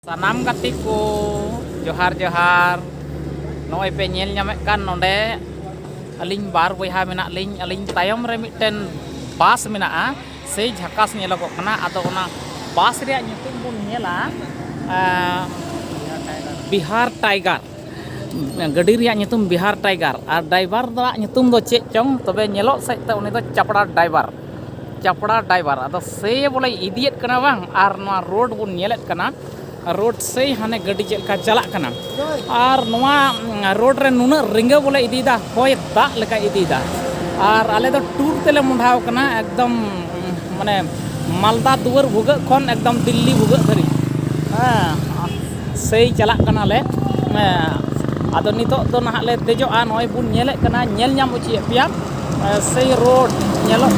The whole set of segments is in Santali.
ᱥᱟᱱᱟᱢ ᱜᱟᱛᱮ ᱠᱚ ᱡᱚᱦᱟᱨ ᱡᱚᱦᱟᱨ ᱱᱚᱜᱼᱚᱭ ᱯᱮ ᱧᱮᱞ ᱧᱟᱢᱮᱫ ᱠᱟᱱ ᱱᱚᱰᱮ ᱟᱹᱞᱤᱧ ᱵᱟᱨ ᱵᱚᱭᱦᱟ ᱢᱮᱱᱟᱜ ᱞᱤᱧ ᱟᱹᱞᱤᱧ ᱛᱟᱭᱚᱢ ᱨᱮ ᱢᱤᱫᱴᱮᱱ ᱵᱟᱥ ᱢᱮᱱᱟᱜᱼᱟ ᱥᱮᱭ ᱡᱷᱟᱠᱟᱥ ᱧᱮᱞᱚᱜᱚᱜ ᱠᱟᱱᱟ ᱟᱫᱚ ᱚᱱᱟ ᱵᱟᱥ ᱨᱮᱭᱟᱜ ᱧᱩᱛᱩᱢ ᱵᱚᱱ ᱧᱮᱞᱟ ᱵᱤᱦᱟᱨ ᱴᱟᱭᱜᱟᱨ ᱜᱟᱹᱰᱤ ᱨᱮᱭᱟᱜ ᱧᱩᱛᱩᱢ ᱵᱤᱦᱟᱨ ᱴᱟᱭᱜᱟᱨ ᱟᱨ ᱰᱨᱟᱭᱵᱷᱟᱨ ᱫᱚ ᱧᱩᱛᱩᱢ ᱫᱚ ᱪᱮᱫ ᱪᱚᱝ ᱛᱚᱵᱮ ᱧᱮᱞᱚᱜ ᱥᱮᱫ ᱛᱮ ᱩᱱᱤ ᱫᱚ ᱪᱟᱯᱲᱟ ᱰᱨᱟᱭᱵᱷᱟᱨ ᱪᱟᱯᱲᱟ ᱰᱨᱟᱭᱵᱷᱟᱨ ᱟᱫᱚ ᱥᱮ ᱵᱚᱞᱮ ᱤᱫᱤᱭᱮᱫ ᱠᱟᱱᱟ ᱵᱟᱝ ᱟᱨ ᱱᱚᱣᱟ ᱨᱳᱰ ᱵᱚᱱ ᱧᱮᱞᱮᱫ ᱠᱟᱱᱟ ᱨᱳᱰ ᱥᱮ ᱦᱟᱱᱮ ᱜᱟᱹᱰᱤ ᱪᱮᱫ ᱞᱮᱠᱟ ᱪᱟᱞᱟᱜ ᱠᱟᱱᱟ ᱟᱨ ᱱᱚᱣᱟ ᱨᱳᱰ ᱨᱮ ᱱᱩᱱᱟᱹᱜ ᱨᱤᱸᱜᱟᱹ ᱵᱚᱞᱮ ᱤᱫᱤᱭᱮᱫᱟ ᱦᱚᱭ ᱫᱟᱜ ᱞᱮᱠᱟ ᱤᱫᱤᱭᱮᱫᱟ ᱟᱨ ᱟᱞᱮ ᱫᱚ ᱴᱩᱨ ᱛᱮᱞᱮ ᱢᱚᱦᱰᱟᱣ ᱠᱟᱱᱟ ᱮᱠᱫᱚᱢ ᱢᱟᱱᱮ ᱢᱟᱞᱫᱟ ᱫᱩᱣᱟᱹᱨ ᱵᱷᱩᱜᱟᱹᱜ ᱠᱷᱚᱱ ᱮᱠᱫᱚᱢ ᱫᱤᱞᱞᱤ ᱵᱷᱩᱜᱟᱹᱜ ᱫᱷᱟᱹᱨᱤᱡ ᱦᱮᱸ ᱥᱮᱭ ᱪᱟᱞᱟᱜ ᱠᱟᱱᱟᱞᱮ ᱟᱫᱚ ᱱᱤᱛᱚᱜ ᱫᱚ ᱱᱟᱦᱟᱜ ᱞᱮ ᱫᱮᱡᱚᱜᱼᱟ ᱱᱚᱜᱼᱚᱭ ᱵᱚᱱ ᱧᱮᱞᱮᱫ ᱠᱟᱱᱟ ᱧᱮᱞ ᱧᱟᱢ ᱦᱚᱪᱚᱭᱮᱫ ᱯᱮᱭᱟ ᱥᱮᱭ ᱨᱳᱰ ᱧᱮᱞᱚᱜ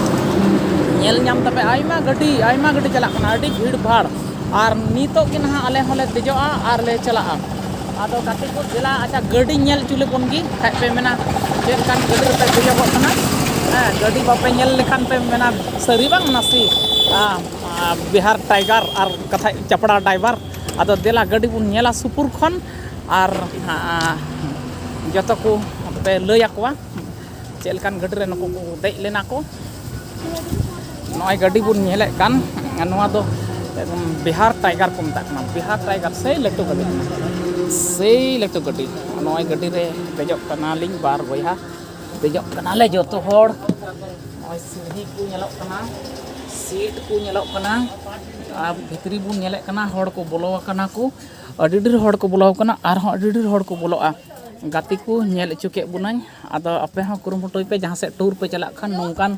ᱧᱮᱞ ᱧᱟᱢ ᱛᱟᱯᱮ ᱟᱭᱢᱟ ᱜᱟᱹᱰᱤ ᱟᱭᱢᱟ ᱜᱟᱹᱰᱤ ᱪᱟᱞᱟᱜ ᱠᱟᱱᱟ ᱟᱹᱰᱤ ᱵᱷᱤᱲ ᱵᱷᱟᱲ ᱟᱨ ᱱᱤᱛᱚᱜ ᱜᱮ ᱱᱟᱦᱟᱜ ᱟᱞᱮ ᱦᱚᱸᱞᱮ ᱫᱮᱡᱚᱜᱼᱟ ᱟᱨ ᱞᱮ ᱪᱟᱞᱟᱜᱼᱟ ᱟᱫᱚ ᱜᱟᱛᱮ ᱠᱚ ᱫᱮᱞᱟ ᱟᱪᱪᱷᱟ ᱜᱟᱹᱰᱤ ᱧᱮᱞ ᱦᱚᱪᱚ ᱞᱮᱵᱚᱱ ᱜᱮ ᱠᱷᱟᱡ ᱯᱮ ᱢᱮᱱᱟ ᱪᱮᱫ ᱞᱮᱠᱟᱱ ᱜᱟᱹᱰᱤ ᱨᱮᱯᱮ ᱫᱮᱡᱚᱜᱚᱜ ᱠᱟᱱᱟ ᱦᱮᱸ ᱜᱟᱹᱰᱤ ᱵᱟᱯᱮ ᱧᱮᱞ ᱞᱮᱠᱷᱟᱱ ᱯᱮ ᱢᱮᱱᱟ ᱥᱟᱹᱨᱤ ᱵᱟᱝ ᱱᱟᱥᱮ ᱵᱤᱦᱟᱨ ᱴᱟᱭᱜᱟᱨ ᱟᱨ ᱠᱟᱛᱷᱟᱡ ᱪᱟᱯᱲᱟ ᱰᱟᱭᱵᱷᱟᱨ ᱟᱫᱚ ᱫᱮᱞᱟ ᱜᱟᱹᱰᱤ ᱵᱚᱱ ᱧᱮᱞᱟ ᱥᱩᱯᱩᱨ ᱠᱷᱚᱱ ᱟᱨ ᱡᱚᱛᱚ ᱠᱚ ᱯᱮ ᱞᱟᱹᱭ ᱟᱠᱚᱣᱟ ᱪᱮᱫ ᱞᱮᱠᱟᱱ ᱜᱟᱹᱰᱤ ᱨᱮ ᱱᱩᱠᱩ ᱠᱚ ᱫᱮᱡ ᱞᱮᱱᱟ ᱠᱚ ᱱᱚᱜᱼᱚᱭ ᱜᱟᱹᱰᱤ ᱵᱚᱱ ᱧᱮᱞᱮᱫ ᱠᱟᱱ ᱱᱚᱣᱟ ᱫᱚ ᱵᱤᱦᱟᱨ ᱴᱟᱭᱜᱟᱨ ᱠᱚ ᱢᱮᱛᱟᱜ ᱠᱟᱱᱟ ᱵᱤᱦᱟᱨ ᱴᱟᱭᱜᱟᱨ ᱥᱮᱭ ᱞᱟᱹᱴᱩ ᱜᱟᱹᱰᱤ ᱠᱟᱱᱟ ᱥᱮᱭ ᱞᱟᱹᱴᱩ ᱜᱟᱹᱰᱤ ᱱᱚᱜᱼᱚᱭ ᱜᱟᱹᱰᱤ ᱨᱮ ᱫᱮᱡᱚᱜ ᱠᱟᱱᱟᱞᱤᱧ ᱵᱟᱨ ᱵᱚᱭᱦᱟ ᱫᱮᱡᱚᱜ ᱠᱟᱱᱟᱞᱮ ᱡᱚᱛᱚ ᱦᱚᱲ ᱱᱚᱜᱼᱚᱭ ᱥᱤᱲᱦᱤ ᱠᱚ ᱧᱮᱞᱚᱜ ᱠᱟᱱᱟ ᱥᱤᱴ ᱠᱚ ᱧᱮᱞᱚᱜ ᱠᱟᱱᱟ ᱟᱨ ᱵᱷᱤᱛᱨᱤ ᱵᱚᱱ ᱧᱮᱞᱮᱫ ᱠᱟᱱᱟ ᱦᱚᱲ ᱠᱚ ᱵᱚᱞᱚ ᱟᱠᱟᱱᱟ ᱠᱚ ᱟᱹᱰᱤ ᱰᱷᱮᱨ ᱦᱚᱲ ᱠᱚ ᱵᱚᱞᱚ ᱟᱠᱟᱱᱟ ᱟᱨ ᱦᱚᱸ ᱟᱹᱰᱤ ᱰᱷᱮᱨ ᱦᱚᱲ ᱠᱚ ᱵᱚᱞᱚᱜᱼᱟ ᱜᱟᱛᱮ ᱠᱚ ᱧᱮᱞ ᱦᱚᱪᱚ ᱠᱮᱫ ᱵᱚᱱᱟᱹᱧ ᱟᱫᱚ ᱟᱯᱮ ᱦᱚᱸ ᱠᱩᱨᱩᱢᱩᱴᱩᱭ ᱯᱮ ᱡᱟᱦᱟᱸ ᱥᱮᱫ ᱴᱩᱨ ᱯᱮ ᱪᱟᱞᱟᱜ ᱠᱷᱟᱱ ᱱᱚᱝᱠᱟᱱ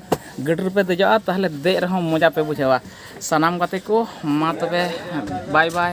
ᱜᱟᱹᱰᱤ ᱨᱮᱯᱮ ᱫᱮᱡᱚᱜᱼᱟ ᱛᱟᱦᱚᱞᱮ ᱫᱮᱡ ᱨᱮᱦᱚᱸ ᱢᱚᱡᱟ ᱯᱮ ᱵᱩᱡᱷᱟᱹᱣᱟ ᱥᱟᱱᱟᱢ ᱜᱟᱛᱮ ᱠᱚ ᱢᱟ ᱛᱚᱵᱮ ᱵᱟᱭ ᱵᱟᱭ